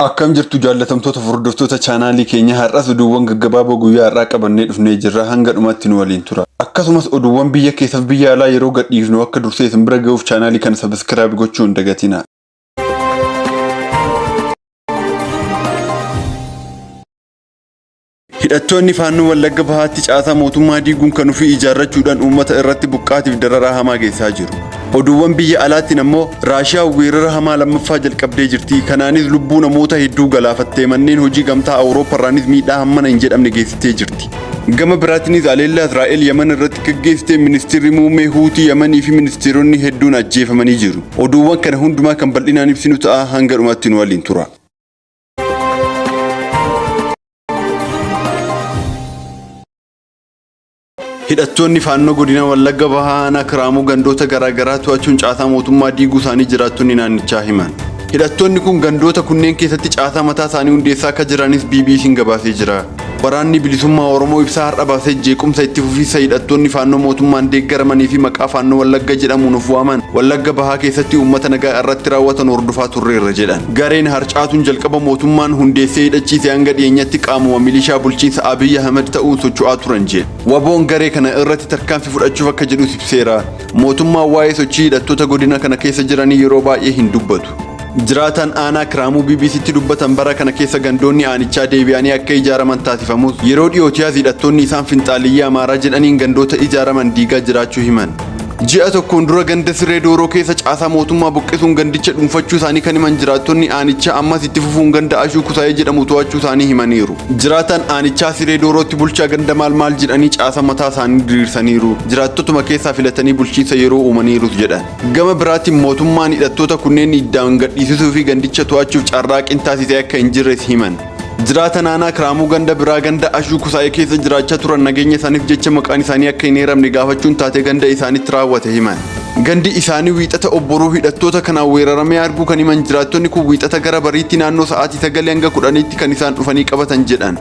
Akkam jirtu jaallatamtoota hordoftoota chaanaalii keenya har'as oduuwwan gaggabaaboo guyyaa har'aa qabannee dhufnee jirra hanga dhumaatti nu waliin tura. Akkasumas oduuwwan biyya keessaaf biyya alaa yeroo gadhiifnu akka dursee isin bira ga'uuf chaanaalii kana sabiskiraayib gochuu hin dagatina. Hidhattoonni faannoo Wallagga Bahaatti caasaa mootummaa diiguun kan ofii ijaarrachuudhaan uummata irratti buqqaatiif dararaa hamaa geessaa jiru. Oduuwwan biyya alaatiin ammoo Raashiyaa weerara hamaa lammaffaa jalqabdee jirti. Kanaanis lubbuu namoota hedduu galaafattee manneen hojii gamtaa Awurooppaarraanis miidhaa hammana hin jedhamne geessitee jirti. Gama biraatiinis haleellaa Israa'el Yaman irratti gaggeessite ministeerri muummee Huutii Yamanii fi ministeeronni hedduun ajjeefamanii jiru. Oduuwwan kana hundumaa kan bal'inaan ibsinu ta'a hanga dhumaatti nu waliin tura. Hidhattoonni faannoo godina Wallagga Bahaa aanaa Kiraamuu gandoota garaagaraa to'achuun caasaa mootummaa diiguu isaanii jiraattonni naannichaa himan. Hidhattoonni kun gandoota kunneen keessatti caasaa mataa isaanii hundeessaa akka jiranis BBC'n gabaasee jira. Waraanni bilisummaa Oromoo ibsaa har'a baasee jeequmsa itti fufiinsa hidhattoonni faannoo mootummaan deeggaramanii fi maqaa faannoo Wallagga jedhamuun of waaman Wallagga bahaa keessatti uummata nagaa irratti raawwatan hordofaa turreerra jedhan. Gareen harcaatuun jalqaba mootummaan hundeessee hidhachiise hanga dhiyeenyatti qaamuma milishaa bulchiinsa Abiy Ahmed ta'uun socho'aa turan jedhe. Waboon garee kana irratti tarkaanfii fudhachuuf akka jedhus ibseera. Mootummaan waa'ee sochii hidhattoota godina kana keessa jiranii yeroo baay'ee hin dubbatu. Jiraataan aanaa Kiraamuu BBCtti dubbatan bara kana keessa gandoonni aanichaa deebi'anii akka ijaaraman taasifamus yeroo dhiyootiyaas hidhattoonni isaan finxaaliyyii Amaaraa jedhaniin gandoota ijaaraman diigaa jiraachuu himan. Ji'a tokkoon dura ganda Sirree Dooroo keessa caasaa mootummaa buqqisuun gandicha dhuunfachuu isaanii kan himan jiraattonni aanichaa ammas itti fufuun ganda Ashuu Kusaayee jedhamu to'achuu isaanii himaniiru. Jiraataan aanichaa siree doorootti bulchaa ganda maal maal jedhanii caasa mataa isaanii diriirsaniiru. Jiraattotuma keessaa filatanii bulchiinsa yeroo uumaniirus jedhan. Gama biraatiin mootummaan hidhattoota kunneen iddaan gadhiisisuu fi gandicha to'achuuf carraaqqiin taasisee akka hin jirres himan. Jiraata naanaa Kiraamuu ganda biraa ganda Ashuu Kusaayee keessa jiraachaa turan nageenya isaaniif jecha maqaan isaanii akka hin eeramne gaafachuun taatee ganda isaanitti raawwate himan. Gandi isaanii Wiixata Obboroo hidhattoota kanaan weeraramee arguu kan himan jiraattonni kun Wiixata gara bariitti naannoo sa'aatii 9-10tti kan isaan dhufanii qabatan jedhan.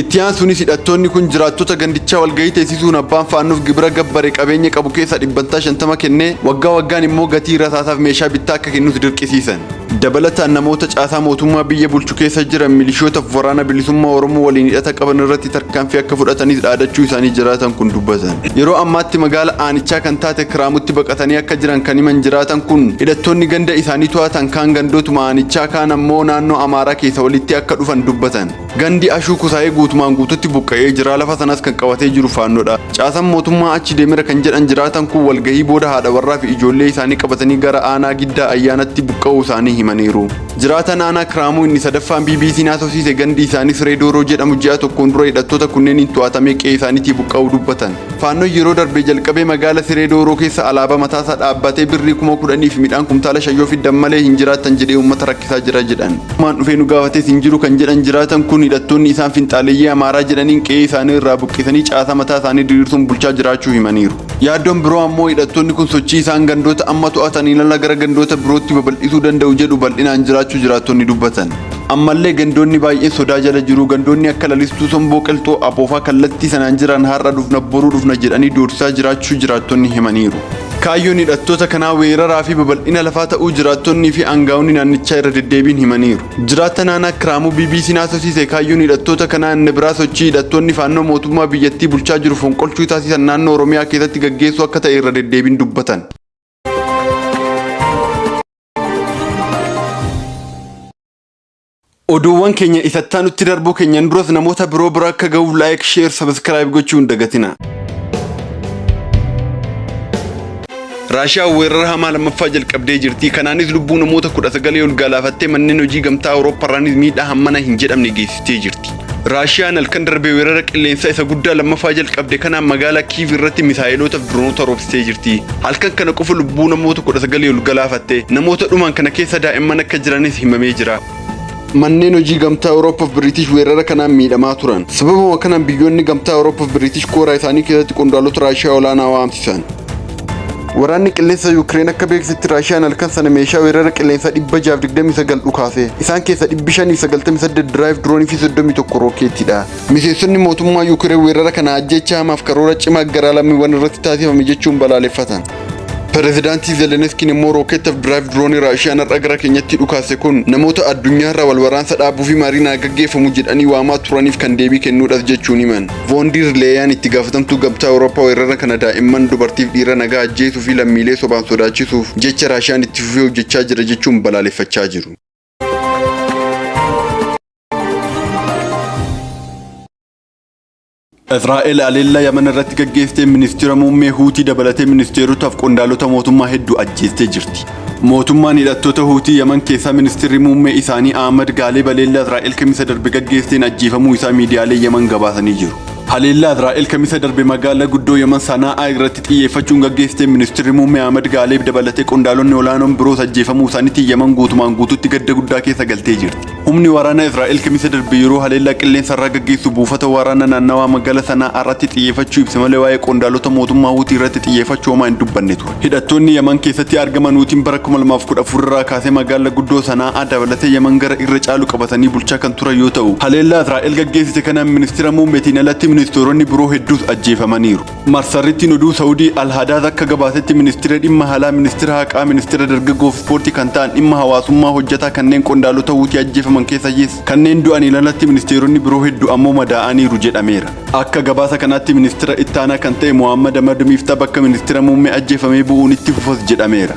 Itti aansuunis hidhattoonni kun jiraattota gandichaa walgahii teessisuun abbaan faannoof gibira gabbare qabeenya qabu keessaa dhibbantaa 50 kennee waggaa waggaan immoo gatii rasaasaaf meeshaa bittaa akka kennus dirqisiisan. Dabalataan namoota caasaa mootummaa biyya bulchu keessa jiran milishootaaf waraana bilisummaa Oromoo waliin hidhata qaban irratti tarkaanfii akka fudhatanis dhaadachuu isaanii jiraatan kun dubbatan. Yeroo ammaatti magaala aanichaa kan taate Kiraamutti baqatanii akka jiran kan himan jiraatan kun hidhattoonni ganda isaanii to'atan kaan gandootuma aanichaa kaan ammoo naannoo Amaaraa keessa walitti akka dhufan dubbatan. Gandi Ashuu Kusaayee guutumaan guututti buqqa'ee jira. Lafa sanas kan qabatee jiru faannoodha. Caasaan mootummaa achi deemera kan jedhan jiraatan kun walgahii booda haadha warraa fi ijoollee isaanii qabatanii gara aanaa Giddaa Ayyaanatti buqqa'uu isaanii himaniiru. Jiraataan aanaa Kiraamuu inni sadaffaan BBC'n haasofsiise gandi isaanii Siree Dooroo jedhamu ji'a tokkoon dura hidhattoota kunneeniin to'atamee qe'ee isaaniitii buqqa'uu dubbatan. Faannoon yeroo darbee jalqabee magaala Siree Dooroo keessa alaabaa mataasaa dhaabbatee birrii kuma kudhaniif midhaan kumtaala shan yoo fiddan malee hin jiraattan jedhee uummata rakkisaa jira jedhan. Mootummaan dhufee nu gaafates hin jiru kan jedhan jiraatan kun hidhattoonni isaan finxaaleyyii Amaaraa jedhaniin qe'ee isaanii irraa buqqisanii caasaa mataa isaanii diriirsuun bulchaa jiraachuu himaniiru. Yaaddoon biroo ammoo hidhattoonni kun sochii isaan gandoota amma to'ataniin ala gara gandoota birootti babal'isuu danda'u jedhu bal'inaan jiraachuu jiraattonni dubbatan. Ammallee gandoonni baay'een sodaa jala jiru. Gandoonni akka Lalistuu, Somboo, Qilxuu, Aboofaa kallattii sanaan jiran har'a dhufna boruu dhufna jedhanii doorsisaa jiraachuu jiraattonni himaniiru. Kaayyoon hidhattoota kanaa weeraraa fi babal'ina lafaa ta'uu jiraattonnii fi aangaa'onni naannichaa irra deddeebiin himaniiru. Jiraataan aanaa Kiraamuu BBC'n haasofsiise kaayyoon hidhattoota kanaa inni biraa sochii hidhattoonni Faannoo mootummaa biyyattii bulchaa jiru fonqolchuu taasisan naannoo Oromiyaa keessatti gaggeessuu akka ta'e irra deddeebiin dubbatan. Oduuwwan keenya ifattaa nutti darbuu keenyan duras namoota biroo bira akka ga'uuf laayik, sheer, sabiskiraayib gochuu hin dagatina. Raashiyaa weerara hamaa lammaffaa jalqabdee jirti. Kanaanis lubbuu namoota kudha sagalee ol gaalaafattee manneen hojii gamtaa Awurooppaa irraanis miidhaa hammana hin jedhamne geessise. ittee jirti. Raashiyaan halkan darbe weerara qilleensaa isa guddaa lammaffaa jalqabde kanaan magaalaa Kiiv irratti misaa'eloota fi diroonota roobsitee jirti. Halkan kana qofa lubbuu namoota 19 ol galaafatte. Namoota dhuman kana keessa daa'imman akka jiranis himamee jira. Manneen hojii gamtaa Awurooppaa fi Biriitish weerara kanaan miidhamaa turan. Sababuma kanaan biyyoonni gamtaa Awurooppaa fi Biriitish kooraa isaanii keessatti qondaalota Raashiyaa olaanaa waamsisan. Waraanni qilleensa Yuukireen akka beeksisetti Raashiyaan halkan sana meeshaa weerara qilleensaa 629 dhukaase. Isaan keessa 598 diraayiv diroonii fi 31 rookeetiidha. Miseensonni mootummaa Yuukireen weerara kana ajjeechaa hamaaf karoora cimaa garaa lammiiwwan irratti taasifame jechuun balaaleffatan. Pireezidaantii Zeleniskiin immoo rookeettaaf diraayiv diroonii Raashiyaan har'a gara keenyatti dhukaase kun namoota addunyaarraa wal waraansa dhaabuu fi mariin haa gaggeeffamu jedhanii waamaa turaniif kan deebii kennuudhas jechuun himan. Voondiir Leeyaan itti gaafatamtuu gamtaa Awurooppaa weerara kana daa'imman dubartiif dhiira nagaa ajjeesuu fi lammiilee sobaan sodaachisuuf jecha Raashiyaan itti fufee hojjechaa jira jechuun balaaleffachaa jiru. Israa'el aleellaa Yaman irratti gaggeessitee ministeera muummee Huutii dabalatee ministeerotaaf qondaalota mootummaa hedduu ajjeestee jirti. Mootummaan hidhattoota Huutii Yaman keessaa ministirri muummee isaanii Ahmad Gaalee baleellaa Israa'el kamisa darbe gaggeesseen ajjeefamuu isaa miidiyaalee Yaman gabaasanii jiru. Haleellaa Israa'el kamisa darbe magaalaa guddoo Yaman Sanaa'aa irratti xiyyeeffachuun gaggeessteen ministirri muummee Ahmad Gaaleeb dabalatee qondaalonni olaanoon biroos ajjeefamuu isaaniitiin Yaman guutumaan guutuutti gadda guddaa keessa galtee jirti. Humni waraanaa Israa'el Kamisa darbe yeroo haleellaa qilleensa irraa gaggeessu buufata waraana naannawaa magaalaa Sana'aa irratti xiyyeeffachuu ibse malee waa'ee qondaalota mootummaa Huutii irratti xiyyeeffachuu homaa hin dubbanne ture. Hidhattoonni Yaman keessatti argaman Huutiin bara 2014 irraa kaasee magaalaa guddoo Sana'aa dabalatee Yaman gara irra caalu qabatanii bulchaa kan turan yoo ta'u, haleellaa Israa'el gaggeessite kanaan ministeera muummeetiin alatti ministeeronni biroo hedduus ajjeefamaniiru. Marsarrittiin oduu Sa'udii Al Hadaad akka gabaasetti ministira dhimma alaa, ministira haqaa, ministira dargaggoo fi ispoortii kan ta'an dhimma hawaasummaa hojjataa kanneen qondaalota Huutii ajjeefaman keessayis kanneen du'aniin alatti ministeeronni biroo heddu ammoo madaa'aniiru jedhameera. Akka gabaasa kanaatti ministira ittaanaa kan ta'e Mohammad Ahmad Miiftaa bakka ministira muummee ajjeefamee bu'uun itti fufas jedhameera.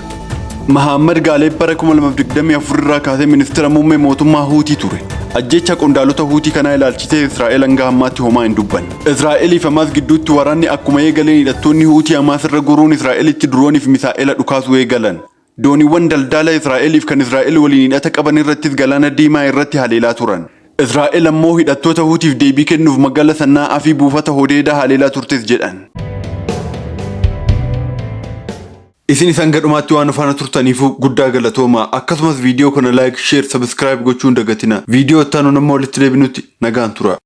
Mahaammad Gaaleeb bara 2024 irraa kaasee ministira muummee mootummaa Huutii ture. Ajjeechaa qondaalota Huutii kanaa ilaalchisee Israa'el hanga ammaatti homaa hin dubbanne. Israa'elii fi Hamaas gidduutti waraanni akkuma eegaleen hidhattoonni Huutii Hamaas irra goruun Israa'elitti diroonii fi misaa'ela dhukaasuu eegalan. Dooniiwwan daldaalaa Israa'elii fi kan Israa'el waliin hidhata qaban irrattis Galaana Diimaa irratti haleelaa turan. Israa'el ammoo hidhattoota Huutiif deebii kennuuf magaalaa Sannaa'aa fi buufata Hodeedaa haleelaa turtes jedhan. Isinis hanga dhumaatti waan nu faana turtaniifu guddaa galatoomaa. Akkasumas viidiyoo kana like, share, subscribe gochuu hin dagatinaa. Viidiyoo itti aanuun amma walitti deebinutti nagaan turaa.